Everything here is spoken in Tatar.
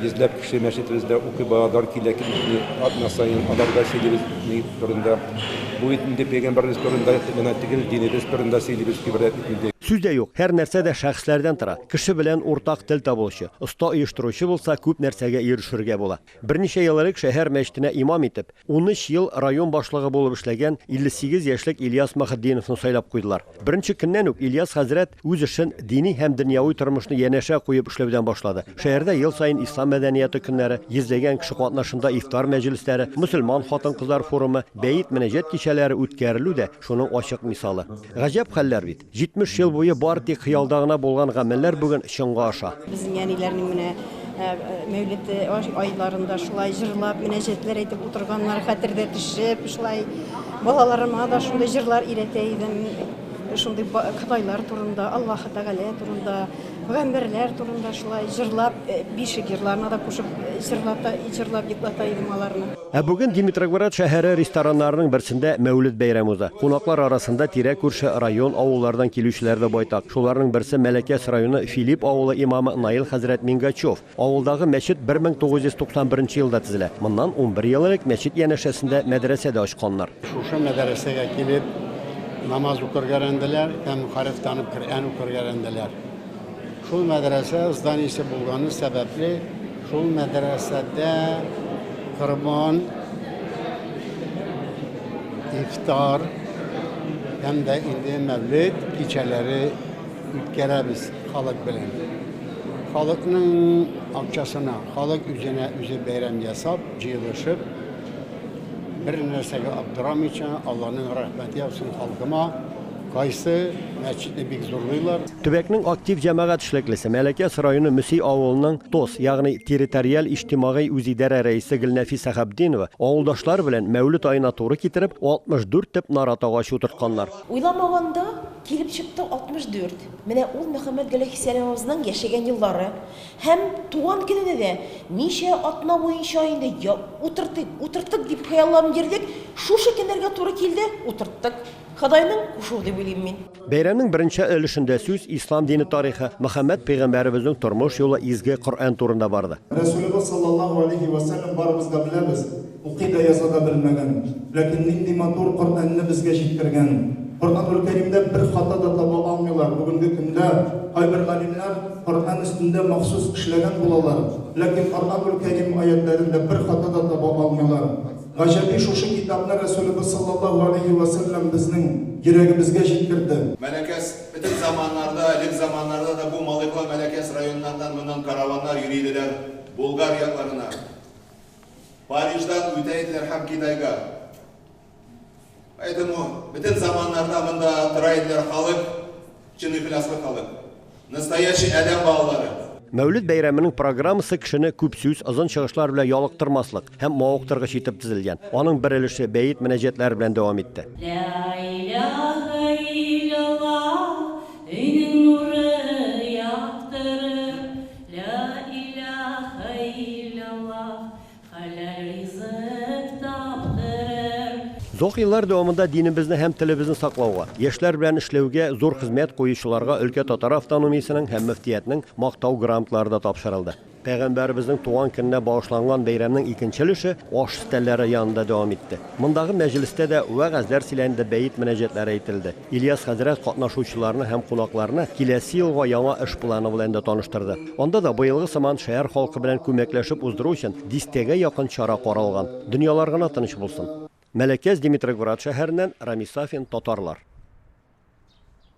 Йөзләп кеше мәчетебездә укый, балалар килә, килешми, атна саен аларга сөйлибез ни турында. Бу бит инде пәйгамбәребез турында гына түгел, динебез турында сөйлибез, гыйбрәт бит инде. Сүз дә юк, һәр нәрсә дә шәхесләрдән тора. Кеше белән уртак тел табылучы, оста оештыручы булса, күп нәрсәгә ирешергә була. Берничә ел элек шәһәр мәчетенә имам итеп, Унөч ел район башлыгы булып эшләгән 58 яшьлек Ильяс Мөхетдиновны сайлап куйдылар. Беренче көннән үк Ильяс хәзрәт үз эшен, дини һәм дөньяви тормышны янәшә куеп эшләүдән башлады. Шәһәрдә ел саен Ислам мәдәнияты көннәре, йөзләгән кеше катнашында ифтар мәҗлесләре, мөселман хатын-кызлар форумы, бәет-мөнәҗәт кичәләре үткәрелү дә шуның ачык мисалы. Гаҗәп хәлләр бит! 70 ел буе бары тик хыялда гына булган гамәлләр бүген чынга аша. Безнең әниләрнең менә Мәүлет айларында шулай җырлап, мөнәҗәтләр әйтеп утырганнар, хәтердә төшеп, шулай балаларыма да шундый җырлар өйрәтә идем. Шундый Ходайлар турында, Аллаһы Тәгалә турында. Гомерләр турында шулай җырлап, бишек җырларына да кушып җырлата, җырлап йоклата идем аларны. Ә бүген Димитрогород шәһәре рестораннарының берсендә Мәүлет бәйрәме уза. Кунаклар арасында тирә-күрше район, авыллардан килүчеләр дә байтак. Шуларның берсе Мәләкәс районы Филипп авылы имамы Наил хәзрәт Мингачев. Авылдагы мәчет 1991 елда төзелә. Моннан унбер ел элек мәчет янәшәсендә мәдрәсә дә ачканнар. Шушы мәдәрәсәгә килеп, намаз укырга өйрәнделәр һәм хәреф танып Коръән укырга өйрәнделәр. Шул мәдрәсә зданиесе булганы сәбәпле, шул мәдрәсәдә корбан, ифтар һәм дә инде мәүлет кичәләре үткәрәбез халык белән. Халыкның акчасына, халык үзенә үзе бәйрәм ясап, җыелышып, бер нәрсәгә аптырамыйча, Алланың рәхмәте яусын халкыма, кайсы мәчетне бик зурлыйлар. Төбәкнең актив җәмәгать эшлеклесе, Мәләкәс районы Мөси авылының ТОС, ягъни Территориаль иҗтимагый үзидарә рәисе Гөлнәфис Сәхапдинова, авылдашлар белән Мәүлет аена туры китереп, 64 төп нарат агачы утыртканнар. Уйламаганда, килеп чыкты 64. Менә ул Мөхәммәтгали Хисәловыбызның яшәгән еллары һәм туган көненә дә ничә атна буенча инде я утыртыйк, утыртыйк дип хыялланып йөрдек, шушы көннәргә туры килде, утырттык. Ходайның кушуы дип уйлыйм мин. Бәйрәмнең беренче өлешендә сүз Ислам дине тарихы, Мөхәммәт пәйгамбәребезнең тормыш юлы, изге Коръән турында барды. Рәсүлебез саллаллаһу алейһи вә сәлләм барыбыз да беләбез, Укый да яза да белмәгән, ләкин нинди матур Коръәнне безгә җиткергән! Коръәнелкәримдә бер хата да таба алмыйлар, бүгенге көндә кайбер галимнәр Коръән өстендә махсус эшләгән булалар, ләкин Коръәнелкәрим аятьләрендә бер хата да таба алмыйлар. Гаҗәби, шушы китапны Рәсүлебез саллаллаһу галәйһи вә сәлләм безнең йөрәгебезгә җиткерде. Мәләкәс, бөтен заманнарда, элек заманнарда да бу Малыйкла, Мәләкәс районнарыннан моннан караваннар йөри иделәр Булгар якларына. Париждан үтә иделәр һәм Китайга. Поэтому бөтен заманнарда монда тора иделәр халык, чын ихласлы халык. Настоящий адәм балалары. Мәүлид бәйрәменең программасы кешене күп сүз, озын чыгышлар белән ялыктырмаслык һәм мавыктыргыч итеп төзелгән. Аның бер өлеше бәет мөнәҗәтләре белән дәвам итте. Лә иләхә илләллах, хәләл ризык таптырыр. Озак еллар дәвамында динебезне һәм телебезне саклауга, яшьләр белән эшләүгә зур хезмәт куючыларга өлкә татар автономиясенең һәм мөфтиятнең Мактау грамоталары да тапшырылды. Пәйгамбәребезнең туган көненә багышланган бәйрәмнең икенче өлеше аш өстәлләре янында дәвам итте. Мондагы мәҗлестә дә вәгазьләр сөйләнде, бәет мөнәҗәтләре әйтелде. Ильяс хәзрәт катнашучыларны һәм кунакларны киләсе елга яңа эш планы белән дә таныштырды. Анда да быелгы сыман шәһәр халкы белән күмәкләшеп уздыру өчен дистәгә якын чара каралган. Дөньялар гына тыныч булсын. Мәләкәс Димитрогорат шәһәреннән Рамис Сафин, Татарлар.